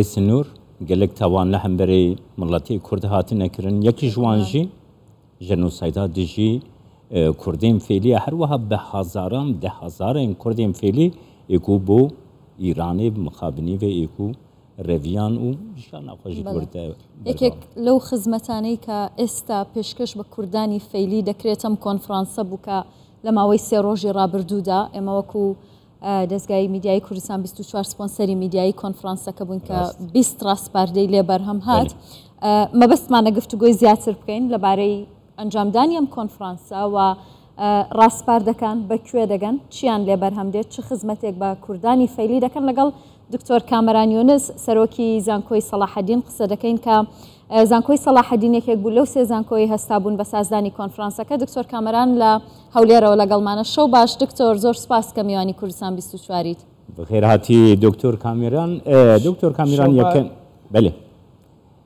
سنور گەلەک تاوان لە هەمبەرەی مڵەتی کورد هاتنە کرن یەکیش وان ژی ژەنۆسایدا دژی کوردین فێلیە هەروەها بە هەزاران دە هەزارێن کوردین فێلی ئێکو بۆ ئیرانێ مخابنی بە ئێکو ڕێڤیان و ژیان ناخۆشی بەڵێ. کوردە یەکێک لەو خزمەتانەی کە ئێستا پێشکەش بە کوردانی فەیلی دەکرێتەم کۆنفرانسە بوو کە لە ماوەی سێ ڕۆژی ڕابردوودا ئێمە وەکو دەزگای میدیایی کوردستان 24 سپۆنسەری میدیایی کۆنفرانسەکە بوون کە 20 ڕاستپاردەی لێ بەرهەم هات مەبەستمانە گفتوگۆی زیاتر بکەین لەبارەی ئەنجامدانی ئەم کۆنفرانسە و ڕاستپاردەکان بەکوێ دەگەن چیان لێ بەرهەم دێت چ خزمەتێک بە کوردانی فەیلی دەکەن لەگەڵ دکتۆر کامەران یونس، سەرۆکی زانکۆی سەڵاحەدین قسە دەکەین کە زانکۆی سەڵاحەدین یەکێک بوو لەو سێ زانکۆی هەستا بوون بە سازدانی کۆنفرانسەکە دکتۆر کامەران لە هەولێرەوە لەگەڵمانە شەو باش دکتۆر زۆر سپاس کە میوانی کوردستان 24 بەخێرهاتی دکتۆر کامێران دکتۆر کامیران یەکەم بەێ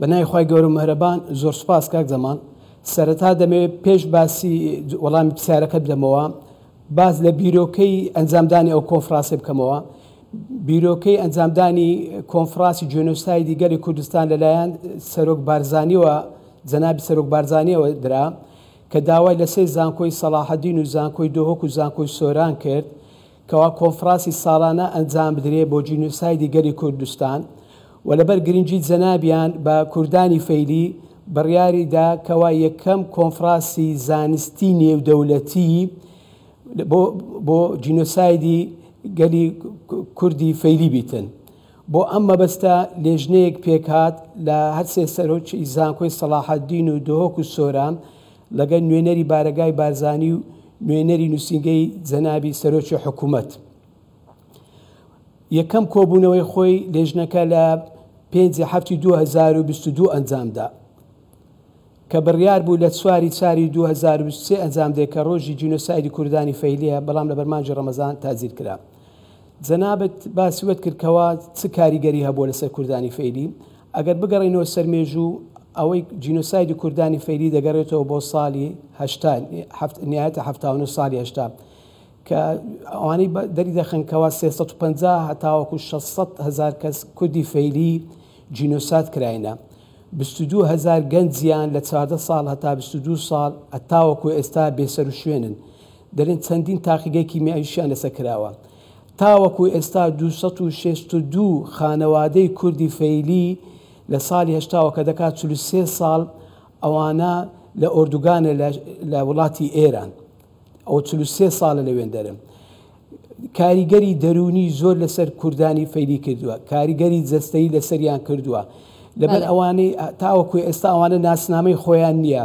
بەنای خی گەورە مەرەبان زۆر سپاس کاک زەمان سەرەتا دەمەوێت پێش باسی وەڵامی پرسیارەکە بدەمەوە باز لە بیرۆکەی ئەنجامدانی ئەو کۆنفراسی بکەمەوە بیرۆکەی ئەنجامدانی کۆنفراسی جۆنۆسای دیگەری کوردستان لەلایەن سەرۆک بارزانیەوە جەنابی سەرۆک بارزانیەوە درا کە داوای لە سێ زانکۆی سەلاحەدین و زانکۆی دۆهۆک و زانکۆی سۆران کرد کەوا کۆنفڕاسی ساڵانە ئەنجام بدرێ بۆ جینۆسایدی گەلی کوردستان و لەبەر گرنگی جەنابیان بە کوردانی فەیلی بڕیاری دا کەوا یەکەم کۆنفڕاسی زانستی نێودەولەتی بۆ بۆ جینۆسایدی گەلی کوردی فەیلی بیتن. بۆ ئەم مەبەستە لێژنەیەک پێکهات لە هەرسێ سەرۆکی زانکۆی سەڵاحەدین و دهۆک و سۆران، لەگەل نوێنەری بارەگای بارزانی و نوێنەری نووسینگەی جەنابی سەرۆکی حکوومەت یەکەم کۆبوونەوەی خۆی لێژنەکە لە پێنجی هەفتی 2022 ئەنجامدا کە بڕیار بوو لە چواری چاری 2023 ئەنجام دێ کە ڕۆژی جینۆسایدی کوردانی فەیلیە بەڵام لە بەرمانجی ڕەمەزان تازیر کرا جەنابت باسی وەت کرد کەوا چ کاریگەری هەبووە لەسەر کوردانی فەیلی ئەگەر بگەڕێینەوە سەر مێژوو ئەوەی جینۆسایدی کوردانی فەیلی دەگەڕێتەوە بۆ ساڵی هەشتا نهایەتە حەفتا و نۆ ساڵی هەشتا کە ئەوانەی دەری دەخەن کەوا سێ سەد و پەنجا هەتاوەکو شەش سەد هەزار کەس کوردی فەیلی جینۆساد کراینە بیست و دوو هەزار گەنجیان لە چواردە ساڵ هەتا بیست و دوو ساڵ هەتاوەکو ئێستا بێسەروشوێنن دەڵێن چەندین تاقیگەی کیمیاویشیان لەسەر کراوە. تاوەکو ئێستا دوو سەد و شەست و دوو خانەوادەی کوردی فەیلی لە ساڵی هەشتاوە کە دەکات چل و سێ ساڵ ئەوانە لە ئۆردوگانە لە وڵاتی ئێران ئەوە چل و سێ ساڵە لەوێندەرن کاریگەری دەروونی زۆر لەسەر کوردانی فەیلی کردووە کاریگەری جەستەی لەسەریان کردووە لەبەر ئەوانەی تاوەکو ئێستا ئەوانە ناسنامەی خۆیان نییە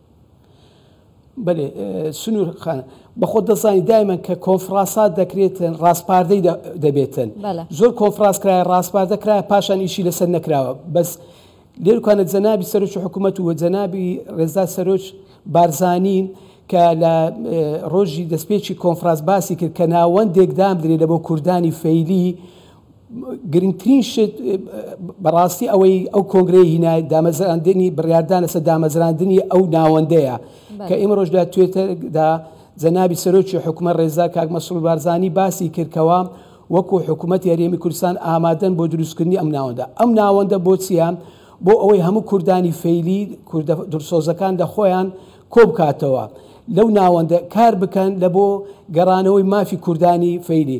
بەلێ سنور خان بەخۆ دەزانی دایمەن کە کۆنفراسات دەکرێتن ڕاستپاردەی دەبێتن زۆر کۆنفراس کرایە ڕاستپاردە کرایە پاشان ئیشی لەسەر نەکراوە بەس لێرکانە جەنابی سەرۆکی حکوومەت و جەنابی ڕێزدا سەرۆک بارزانین کە لە ڕۆژی دەستپێکی کۆنفراس باسی کرد کە ناوەندێکدام درێ لە بۆ کوردانی فەیلی گرنگترین شت بەڕاستی ئەوەی ئەو کۆنگرەی هینا دامەزراندنی بڕاردان لەسەر دامەزراندنی ئەو ناوەندەیە کە ئێمە ڕۆژدا توێتەدا جەنابی سەرۆکی حکومە ڕێزا کاک مەسرور بارزانانی باسی کردکەوە وەکو حکوومەت یاریێمی کوردستان ئامادەن بۆ دروستکردنی ئەم ناوەندە ئەم ناوەندە بۆ چیە بۆ ئەوەی هەموو کوردانی فەیلی کوردە درسۆزەکان لە خۆیان کۆبکاتەوە لەو ناوەندە کار بکەن لە بۆ گەڕانەوەی مافی کوردانی فەیلی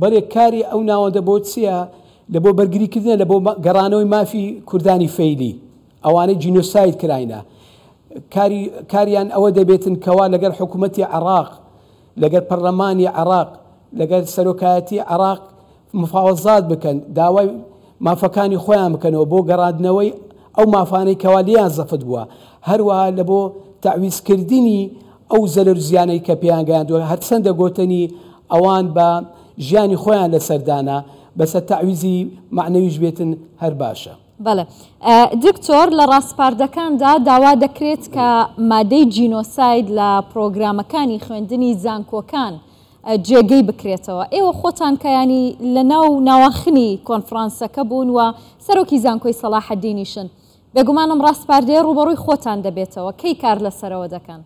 بەرێ کاری ئەو ناوەندە بۆ چیە؟ لە بۆ بەرگری کردنە لە بۆ گەڕانەوەی مافی کوردانی فەیلی ئەوانەی جینۆساید کراینە کاری کاریان ئەوە دەبێتن کەوا لەگەر حکومەتی عراق لەگەر پەرلەمانی عراق لەگەر سەرۆکایەتی عراق مفاوەزات بکەن داوای مافەکانی خۆیان بکەنەوە بۆ گەڕادنەوەی ئەو مافانەی کەوا لیان زەفت بووە هەروەها لە بۆ تەعویز کردنی ئەو زەرەر و زیانەی کە پێیان گەیاندووە هەرچەندە گۆتەنی ئەوان بە ژیانی خۆیان لەسەر دانا بەسە تەعویزی مەعنەویش بێتن هەر باشە. بەڵێ دکتۆر لە ڕاسپاردەکاندا داوا دەکرێت کە مادەی جینۆساید لە پڕۆگرامەکانی خوێندنی زانکۆکان جێگەی بکرێتەوە ئێوە خۆتان کە یانی لە ناو ناواخنی کۆنفڕانسەکە بوون و سەرۆکی زانکۆی سەڵاحەدینیشن بێگومانم ڕاسپاردەیە ڕووبەڕووی خۆتان دەبێتەوە، کەی کار لەسەرەوە دەکەن؟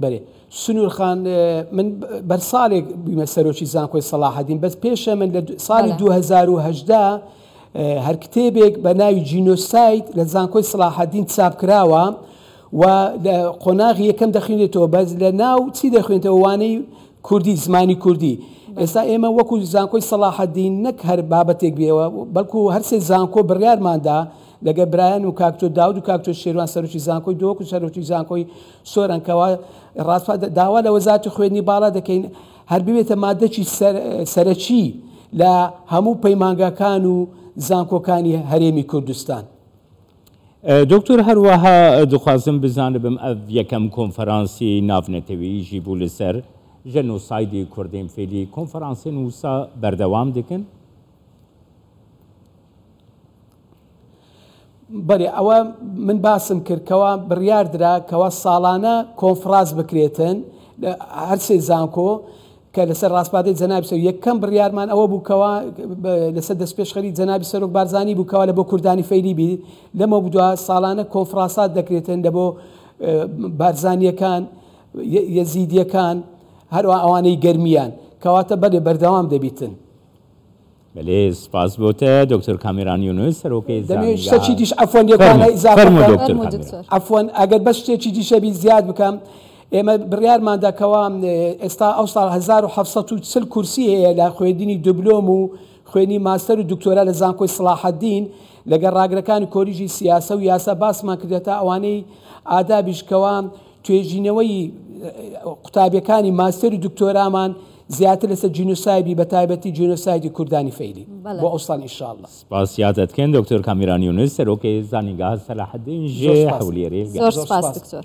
بەرێ سنوور خان من بەر ساڵێک بوویمە سەرۆکی زانکۆی سەڵاحەدین بەس پێشە من لە ساڵی 2010 هەر کتێبێک بە ناوی جینۆسایت لە زانکۆی سلاحدین چاپ کراوە و لە قۆناغی یەکەم دەخوێنێتەوە بەس لە ناو چی دەخوێنێتەوە وانەی کوردی، زمانی کوردی ئێستا ئێمە وەکو زانکۆی سەڵاحەدین نەک هەر بابەتێک بێەوە بەڵکو هەرسێ زانکۆ بڕیارماندا لەگە برایان و کاکتۆ داود و کاکتۆ شێروان سەرۆکی زانکۆی دۆک و سەرۆکی زانکۆی سۆرانکەوە ڕاستپا داوا لە وەزاتی خوێنی باڵا دەکەین هەر ببێتە مادەکی سەرەکی لە هەموو پەیمانگاکان و زانکۆکانی هەرێمی کوردستان. دوکتور هەروەها دخوازم بزانبم ئەڤ یەکەم کۆنفەرانسی ناڤنەتەویی ژی بوو لسەر ژەنۆسایدی کوردین فیلی کۆنفەرانسین وسا بەردەوام دکن؟ بەلی ئەوە من باسم کرد کەوا بریار درا کەوا ساڵانە کۆنفڕاس بکرێتن هەر سێ زانکۆ کە لەسەر ڕاسپاردەی جەنابی سەرۆک یەکەم بڕیارمان ئەوە بوو کەوا لەسەر دەستپێشخەری جەنابی سەرۆک بارزانی بوو کەوا لە بۆ کوردانی فەیلی بی لەمە بدووە ساڵانە کۆنفراسات دەکرێتن لە بۆ بارزانیەکان یەزیدیەکان هەروە ئەوانەی گەرمیان کەواتە بەێ بەردەوام دەبیتن بەلێ سپاس بۆت دکتۆر کامێران یونس سەرۆکی زانیاری. فەرموو دکتۆر کامێران. عەفوەن ئەگەر بەس شتێکی دیش هەبی زیاد بکەم ئێمە بڕیارمان دا کەوا ئێستا ئەو ساڵ هەزار و حەفت سەد و چل کورسی هەیە لە خوێندنی دبلۆم و خوێندنی ماستەر و دکتۆرا لە زانکۆی سەڵاحەدین لەگەڵ ڕاگرەکانی کۆلیژی سیاسە و یاسا باسمان کردیە تا ئەوانەی ئادابیش کەوا توێژینەوەی قوتابیەکانی ماستەر و دکتۆرامان زیاتر لەسەر جینۆسایبی بە تایبەتی جینۆسایدی کوردانی فەیلی بۆ ئەوسان ئیشااللە. سپاس زیاتت کەین دکتۆر کامیران یونس سەرۆک زانیگاه سەلاحەدین ژێ هەولێری. زۆر سپاس دکتۆر.